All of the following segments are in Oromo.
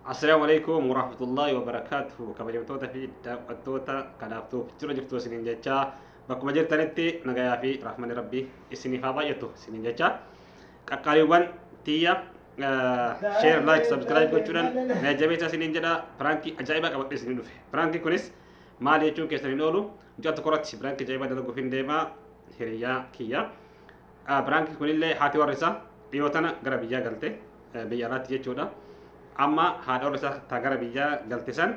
Assalaamu alaikum warahmatullahi wabarakatuh kabajamtoota fi daawwattoota kanaaf tuuf jira jirtu isiniin jechaa bakkuma jirtanitti nagayaa fi rahmani rabbi isiniif haa baay'atu isiniin jechaa qaqqaaliiwwan tiyya share like subscribe gochuudhaan na jabeessa isiniin jedha piraankii ajaa'ibaa qabadhe isinii dhufe piraankii kunis maal jechuun keessan hin oolu mucaa tokko irratti piraankii ajaa'ibaa dalaguuf hin deema hiriyaa kiyya Biraanki kunillee haati warri isaa dhiyoo tana gara biyyaa galte biyya alaatti jechuudha. Amma haadha warri isaa taa gara biyyaa galte san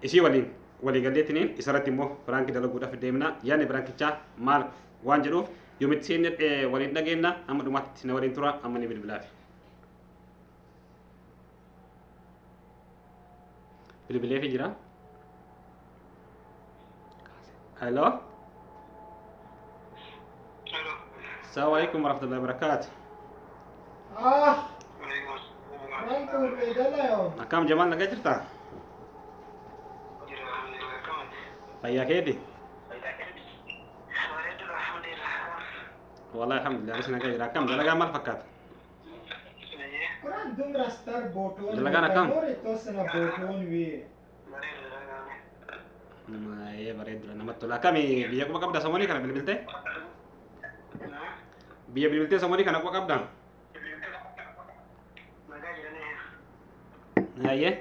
isii waliin walii galleetiniin isarratti immoo biraanki dalaguudhaaf deemna. Yaadni biraankichaa maal waan jedhuuf yoomitti seenne waliin dhageenna amma dhumaatti na waliin tura amma ni bilbilaafi. Bilbilee fi jira. Hello. Assalamu alaikum warahmatullahi wabarakatuh. Akkam Jamaal nagaa jirta? Fayyaa keeti? Wallahi alhamdulillah anis nagaa jira. Akkam dalagaa maal fakkaata? Dalagaan akkam? Maayee bareedudha namatti tola. Akkami biyya quba qabda samoonii kana bilbiltee? Biyya bilbiltee samoonii kana quba qabda? Maayee?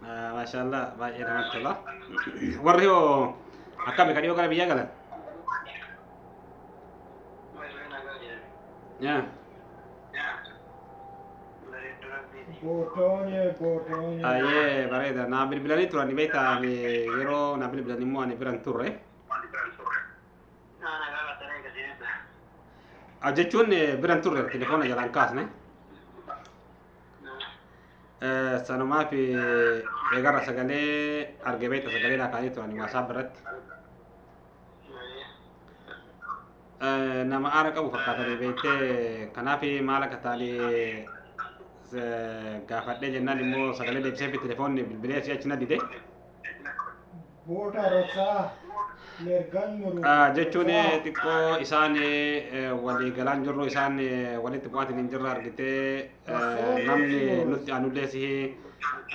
Ah, Maashaallah baay'ee namatti tola. Warri hoo akkami ka dhiyoo gara biyyaa galan? Yaa. Bootoonya bootoonya. Baay'ee bareeda. Naa bilbilanii turan beektaa ani yeroo naa bilbilan immoo ani biran turre. Ah, Jechuun eh, biran turre telefoona jalaan kaasne. Sanumaaf eegarra sagalee arge beekta sagalee naa kaa'anii turan waasaap irratti. Nama aara qabu fakkaatanii beektee kanaaf maal akka ta'anii gaafadhee jennaan immoo sagalee deebisee fi telefoonni bilbilee si achi na dide. Booda rogaa mergan muru. Ah, jechuun eh, xiqqoo isaan eh, walii galaan jirru isaan eh, walitti bu'aatiin hin jirre argitee eh, namni nutti aanullee si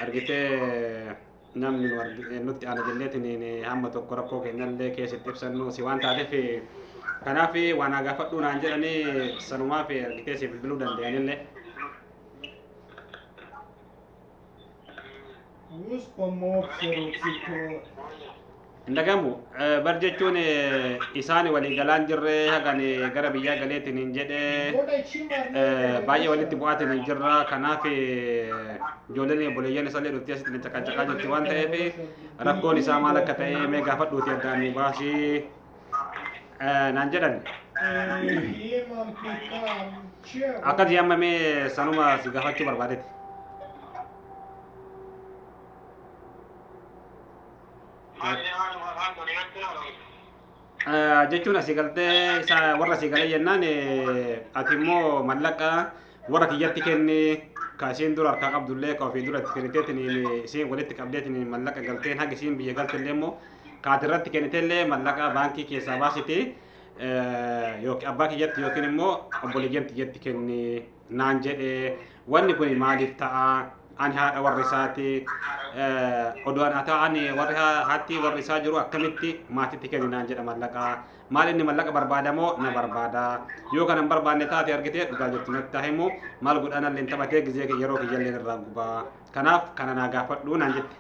argitee eh, namni nu argi- eh, nutti aana jenneetiin eh, hamma tokko rakkoo keenyallee keessatti ibsannu si waan taateef eh, kanaaf eh, waan haa gaafadhu naan jedhanii sanumaaf eh, argitee si bilbiluu danda'anillee. Use for more zero zip code. hin dhagamu bar jechuun eh, isaan walii galaan jirre hagan eh, gara biyyaa galeetiin hin jedhe Booda ishii maarnee eh, walii baay'ee walitti galchaa. bu'aatiin hin jirra kanaaf eh, ijoolleen obboleeyyan isaallee dhuftee asitti caqacaqaa jirti waan ta'eef rakkoon isaa maal akka ta'e mee gaafadhuuti addaan nu baasii Eh, naan jedhan akkati amma mee sanuma si gaafachuu barbaadetti Eh, jechuun asii galtee isa warra asii galee jennaan eh, ati immoo mallaqa Warra kiyyatti kenni ka isiin dura harkaa qabdullee ka ofii dura itti kenniteetiniin isiin walitti qabdeetiniin mallaqa galteen haga isiin biyya galtellee immoo kaati irratti kennitellee mallaqa baankii keessaa baasiti yookiin abbaa kiyyatti yookiin immoo obboleeyyan kiyyatti kenni naan jedhe wanni kun maaliif ta'a ani haadha warri isaati odoo ana ta'an warri haatti warri isaa jiru akkamitti maatitti kenni naan jedha mallaqa Maal inni mallaqa barbaada moo na barbaada? Yoo kana hin barbaanne taate argitee dhugaa jirtu natti haa himu. Maal godhaa nalleen taphatee gizee kiyya yeroo kiyyalleen irraa gubaa. Kanaaf kana naa gaafadhu naan jette.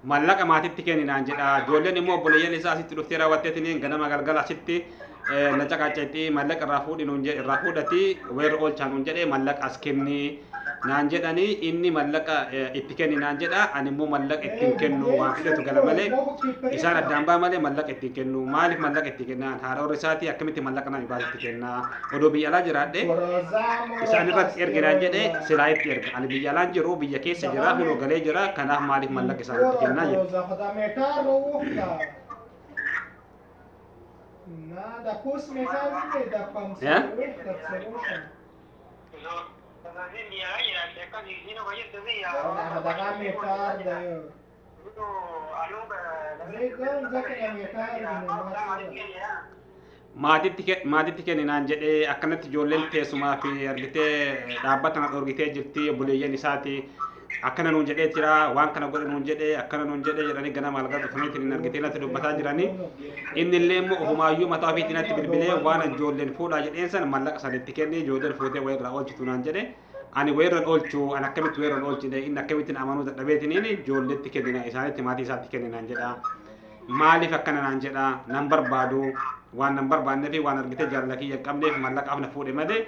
Mallaqa maatitti kenni naan jedha. Ijoolleen immoo obboleeyyan isaa asitti dhuftee raawwatteetiniin ganama galgala asitti na caqacceetti mallaqa irraa fuudhi nuun jedhe irraa fuudhati weerra oolchaa nuun jedhe mallaqa as kenni naan jedhani inni mallaqa itti kenni naan jedha ani immoo mallaqa ittiin kennu waan fidatu gala malee isaan addaan baa malee mallaqa ittiin kennu maaliif mallaqa itti kennaan haadha warra isaati akkamitti mallaqa nama baas itti kenna odoo biyya alaa jiraadhe isaan irratti ergi naan jedhe silaa itti erga ani biyya alaan jiru biyya keessa jira kunoo galee jira kanaaf maaliif mallaqa isaan itti kennaa jedhe. maatitti kenninaan jedhee akkanatti ijoolleen teessumaa fi argitee dhaabbata na dhorgitee jirti obboleeyyan isaati akkana nuun jedhee jira waan kana godhe nuun jedhe akkana nuun jedhe jedhanii ganama algaa dhufaniitiin hin argitee natti dubbataa jiranii inni illee immoo ofumaayyuu mataa ofiitiin natti bilbilee waan ijoolleen fuudhaa jedheen sana mallaqa sana itti kenne ijoolleen fuutee wayirraa oolchitu naan jedhe ani wayirran oolchu an akkamitti wayirran oolchine inni akkamittiin amanuu dadhabeetiniin ijoolleetti kennina isaanitti maatii isaatti kenninaan jedha maaliif akkana naan jedha nan barbaadu waan nan barbaannee fi waan argitee jaalala kiyya hin qabneef mallaqa afna fuudhe malee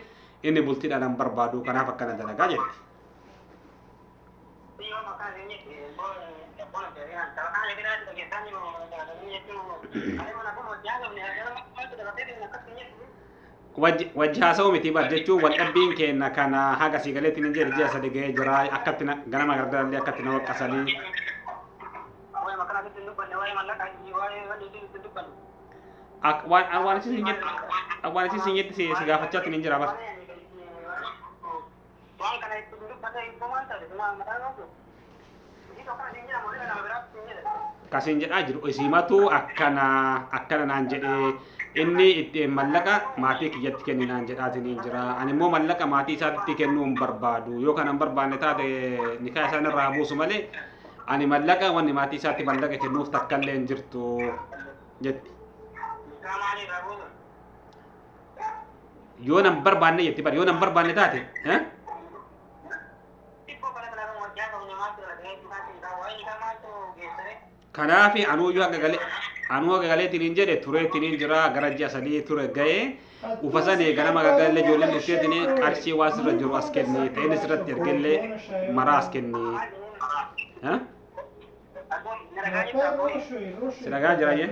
inni bultiidhaan nan barbaadu kanaaf akkana dalagaa jetti. Wajji wajji haasa'uu miti bar jechuun wal dhabbiin keenya kana haga sii galeetti ni jedhe ji'a sadi ga'ee jira akkatti na- ganama gargarallee akkatti na waqqasanii Ak- waan waan isin jetti waan isin jetti si si gaafachaatti ni jira bar. Waan kana itti hin dubbanne hibboo maal taate suma mataa yoo jiru. Isiitu akkana siin jedha moodela nama biraatu siin jedha. Ka siin jedhaa jiru isiimatu akkana akkana naan jedhee inni itti mallaqa maatii kiyyatti kenni naan jedhaatiin hin jira. Ani immoo mallaqa maatii isaatti kennuu hin barbaadu. Yoo kana hin barbaanne taate nikaa isaan irraa buusu malee ani mallaqa wanni maatii isaatti mallaqa kennuuf takka illee hin jirtu jetti. Isaa maaliirraa buusu? yoo nan barbaanne jetti bar yoo nan barbaanne taate eh? kanaafi anuuyyuu akka galee anuu akka galeetiin hin jedhe tureetiin hin jira gara ji'a sadii ture ga'ee ufa sanii ganama gaggalee ijoolleen dhufteetiin qarshii waan sirra jiru as kenni ta'een sirratti ergellee maraa as kenni. Eh? Si dhagaa jira jee.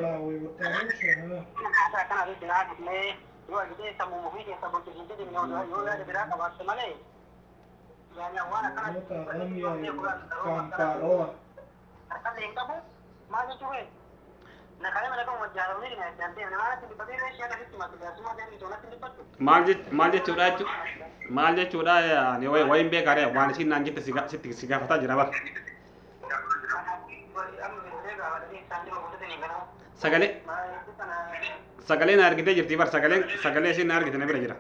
Maal jech- maal jechuudha jechu maal jechuudha ani wayi- wayiin beekaare waan isiin naan jette si ga- sitti si gaafataa jira bar. Sagalee sagalee na argitee jirti bar sagalee sagalee isheen na argite na bira jira.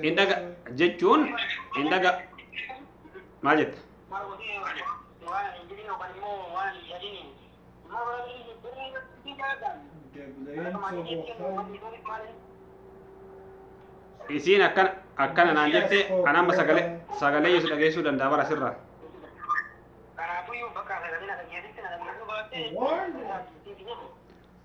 Hin dhaga jechuun hin dhaga maal jetta? isiin akkana akkana naan jette an amma sagalee sagalee yesu dhageessuu danda'a bara sirraa Kanaafuu bakka sagalee na dhageessitti na dhageessuu baatte.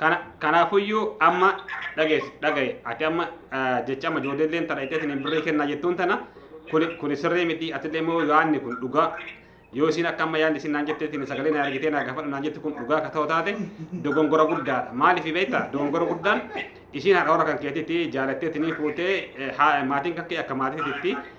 Kana kanaafuyyuu amma dhageessi dhagaye ati amma ah, jecha amma ijoolleen tana itti isin birrii kennaa jettuun tana kuni kuni sirrii miti atillee immoo yaanni kun dhugaa yoo isin akka amma yaanni isin naan jettee isin sagalee na argitee na gaafadhu naan jetti kun dhugaa akka ta'u taate dogongora guddaadha maaliif beekta dogongora guddaan isin haadha warra kan keetitti jaalattee isinii fuutee eh, haa- maatiin kakkee akka maatiititti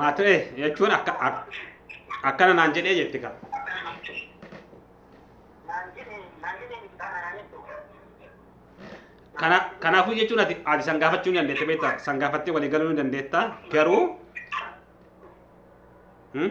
Maatoo ee jechuun akka ak- akkana naan jedhee jetti kaa. Kana kanaafuu jechuun ati ati san gaafachuu ni dandeetta beektaa san gaafattee walii galuu ni dandeetta garuu hmm?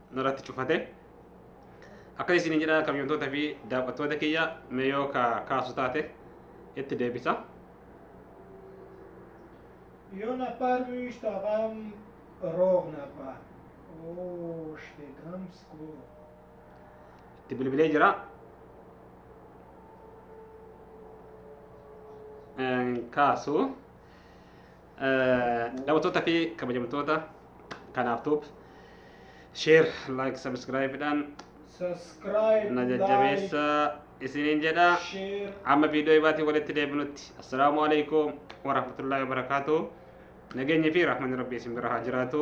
narratti cufate akka isin jedha kabajamtoota fi daawwattoota kiyya mee yoo ka kaasu taate itti deebisa Io na parvist avam rovna pa. Oh, shte gamsko. itti bilbilee jira Een, kaasu Daawwattoota fi kabajamtoota kanaaf tuub share like subscribe dhaan subscribe na jajjabeessa isiniin jedha share amma viidiyoo ibaatiin walitti deebinutti assalaamu alaikum warahmatullaahi wabarakaatu nageenyi fi rahmanni rabbii isin bira haa jiraatu